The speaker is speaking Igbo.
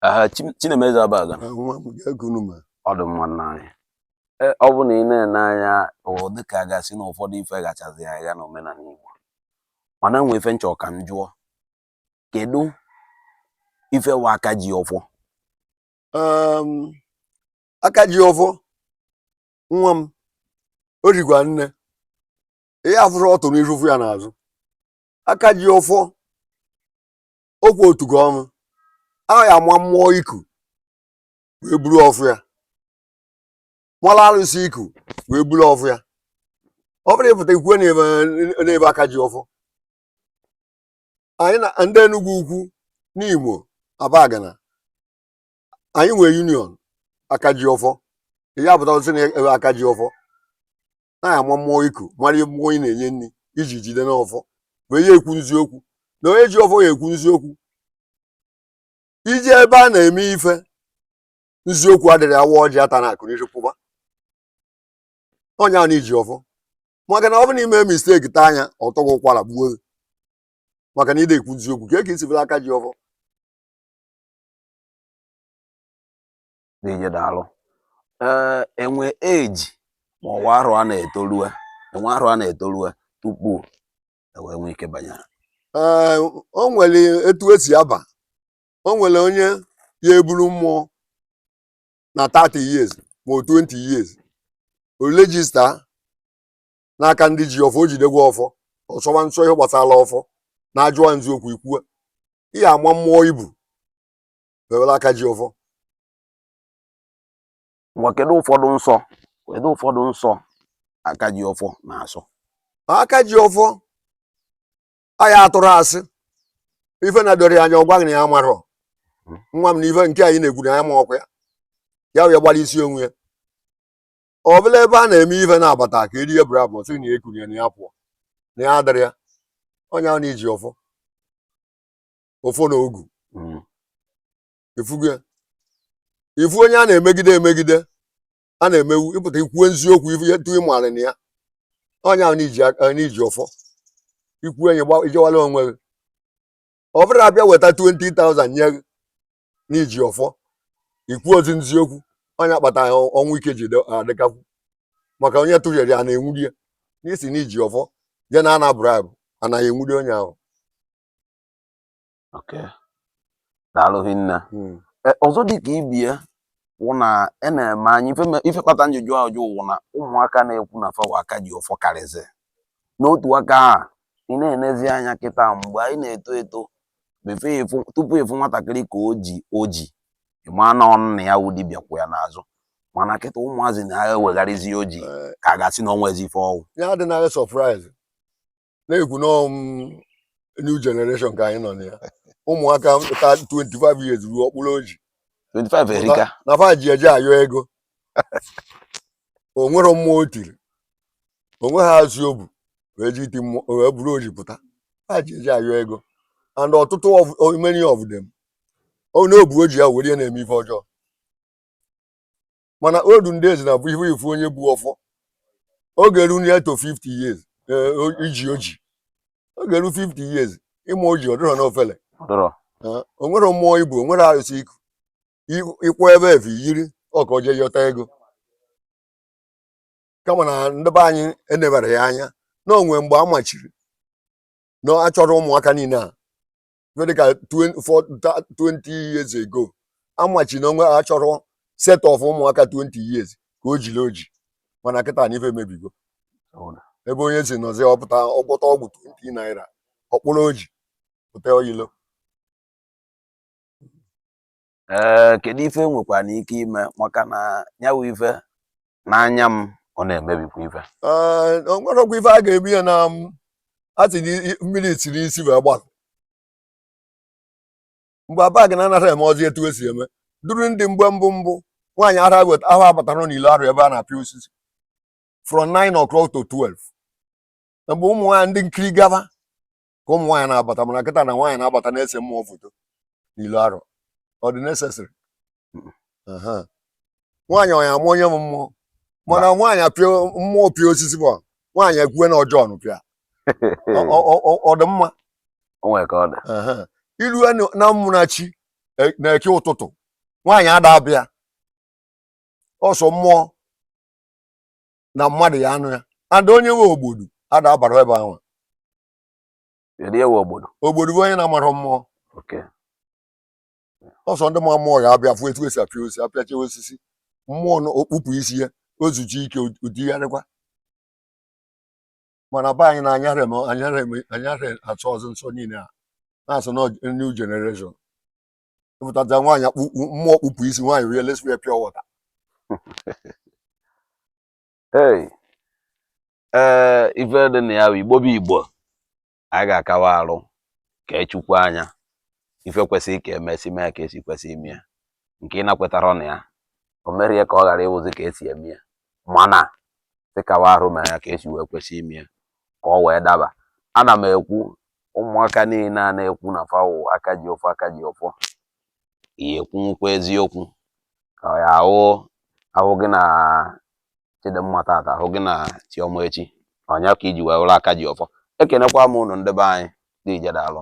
aha Chi- Chinemeze Abaga Ha nwa m gaa gunu ma ọ dị mma nna anyị E, ọ bụ na ị na-ene anya ọ dị ka a ga-asị na ụfọdụ ife gachazi aga n'omenala Igbo mana nwe ife m chọ ka m jụọ kedu ife wa aka ji ọfọ um, aka ji ọfọ nwa m o rigwa nne ihe a fụrụ otu n'iru fụ ya n'azụ aka ji ọfọ okwu otu gị ọnụ ahụ ya-ama mmụọ iku wee buru ọfọ ya mara arụsị iku wee buru ọfọ ya ọ bụrụ ị pụta i kwue na ebe aka ji ọfọ anyị na ndị Enugwu Ukwu Nimo Abagana anyị nwee union aka ji ọfọ ị ya-apụta sị na ebe aka ji ọfọ ya-ama mmụọ iku mara ihe mmụọ ị na-enye nri i ji jide n'ọfọ wee ya ekwu nziokwu na onye ji ọfọ ya ekwu nziokwu iji ebe a na-eme ife nziokwu adịrị awa ọjị ata na akụ n'isi kwụba onye ahụ iji ọfọ maka na ọ bụ na i mee mistake taa anya ọ tọ gị ụkwara gbuo gị maka na ị dị ekwu nziokwu ka e ka i si bụrụ aka ji ọfọ dị ije daalụ ee e nwe age ma ọ wa arọ a na-etolue e nwe arọ a na-etolue tupu e wee nwee ike banye ee o nwere etu e si aba o nwere onye ya-eburu mmụọ na 30 years ma 20 years o register n'aka ndị ji ọfọ o jidekwa ọfọ ọ sọwa nsọ ihe gbasara ọfọ na-ajụwa nziokwu i kwuwe ị ya-ama mmụọ i bu bewere aka ji ọfọ ngwa kedu ụfọdụ nsọ kedu ụfọdụ nsọ aka ji ọfọ na-asọ aka ji ọfọ aya atụrụ asị ife na-edoro ya anya ọ gwa gị na ya amarọ nwa m na ife nke a ị na-ekwu na ya amarọkwa ya ya wee gbara isi onwe ya ọ bụla ebe a na-eme ife na-abata ka erie bụrụ abụ sị na ekunye na ya pụọ na ya adịrọ ya onye ahụ na-eji ọfọ ọfọ na ogu Mm. ị fụgo ya ị fụ onye a na-emegide emegide a na-emewu ị pụta i kwuo nziokwu ifu ya tu ị mara na ya onye ahụ n'iji aka n'iji ọfọ ikwu enyi gba ijewala onwe gị ọ bụrụ a bịa weta 20,000 nye gị na i ji ọfọ i kwuzi nziokwu onye akpata ya ọnwụ ike ji dị- adịkakwu maka onye tụnyere ya na-enwuri ya n'isi na i ji ọfọ jee na-ana bribe anaghị enwuri onye ahụ Okay. daalụ hinne Mm. Eh, ọzọ dị ka ibe ya wụ na e na-eme anyị ife me- ife kpata m ji jụ ajụ wụ na ụmụaka na-ekwu na fa wụ aka ji ọfọ karịzị n'otu aka a ị na-enezi anya kịta mgbe anyị na-eto eto before ịfụ tupu ịfụ nwatakịrị ka o ji oji ịma na ọ nna ya wụ dibịa kwụ ya n'azụ mana kịta ụmụazị na-ewegharịzi oji Eh, ka a ga-asị na o nwezi ife ọ wụ ya adịnaghị surprise na-ekwu na um, new generation ka anyị nọ na ya ụmụaka ka 25 years ruo ọ kpụrụ oji 25 erika na fa ji eje ayọ ego o nwere mmụọ o tiri o nweghị arụsị o bu wee ji iti mmụọ wee buru oji pụta fa ji eje ayọ ego and ọtụtụ of- o- many of them ọ na-ebu oji ya were ya na-eme ife ọjọọ mana olden days na before ịfụ onye bu ọfọ ọ ga-eru ya to 50 years eh, o- iji oji ọ ga-eru 50 years ịma oji ọ dịrọ n'ofele dọrọ Eh, o nwere mmụọ i bu o nwere arụsị i ku I- ịkwụ ebe efe yiri ọka o jee yọta ego kama na ndị be anyị enebara ya anya na o nwe mgbe a machiri na achọrọ ụmụaka niile a ife dịka 20 years ago a machi na o nwe achọrọ set of ụmụaka 20 years ka o jiri oji mana kịta na ife emebigo ebe onye si nọzi ọ pụta ọ gwọta ọgwụ 20 naira ọ kpụrụ oji pụta ilo ee eh, kedu ife e nwekwanụ ike ime maka na nya wụ ife n'anya m ọ na-emebikwa ife eh, o nwerọkwa ife a ga-eme ya na mm, a sị mmiri siri isi wee gbalụ mgbe Abagana anarọ emezi etu e si eme duru ndị mgbe mbụ mbụ nwaanyị ara weta ahụ abatarọ n'ilo arọ ebe a na-apịa osisi from 9 o'clock to 12 mgbe ụmụ nwaanyị ndị nkiri gaba ka ụmụ nwaanyị na-abata mana kịta na nwaanyị na-abata na-ese mmụọ foto n'ilo arọ ọ dị necessary nwaanyị ọnya amụ onye ma mmụọ mana nwaanyị apịa mmụọ pịa osisi bụ nwaanyị ekwuwe na Ojiọnụ pịa ọ dị mma i lue na Ụmụnachi e, n'Eke ụtụtụ nwaanyị ada abịa ọsọ mmụọ na mmadụ ya anọ ya and onye wụ ogbodu ada abara ebe ahụ Kedu ihe wụ ogbodu? ogbodu bụ onye na-amarọ mmụọ Okay. ọ sọ ndị ma mmụọ ya abịa fụ etu e si apịa osisi apịacha osisi mmụọ na o kpupụ isi ya o zuchi ike o digharịkwa mana be anyị na anyara eme anyara eme anyara asọzi nsọ niile a na-asọ na new generation ịpụtaja nwaanyị akpụkpụ mmụọ kpụpụ isi nwaanyị rie lesiwe pure water Hey. ee ife dị na ya bụ igbo bụ igbo anyị ga-akawa arụ ka echukwu anya ife kwesịrị ka emesi mee ka esi kwesị ime ya nke ị nakwetara na ya o merie ka ọ ghara ịwụzi ka esi eme ya mana sị kawa arụ mee ya ka esi wee kwesị ime ya ka ọ wee daba ana m ekwu ụmụaka niile a na-ekwu na fa wụ aka ji ọfọ aka ji ọfọ ị ya-ekwunwukwa eziokwu ka ọ ya-awụ ahụ gị na chidimma tata ahụ gị na chiọma echi ọ nya ka iji wee wụrụ aka ji ọfọ ekenekwa m ụnụ ndị be anyị deeje daalụ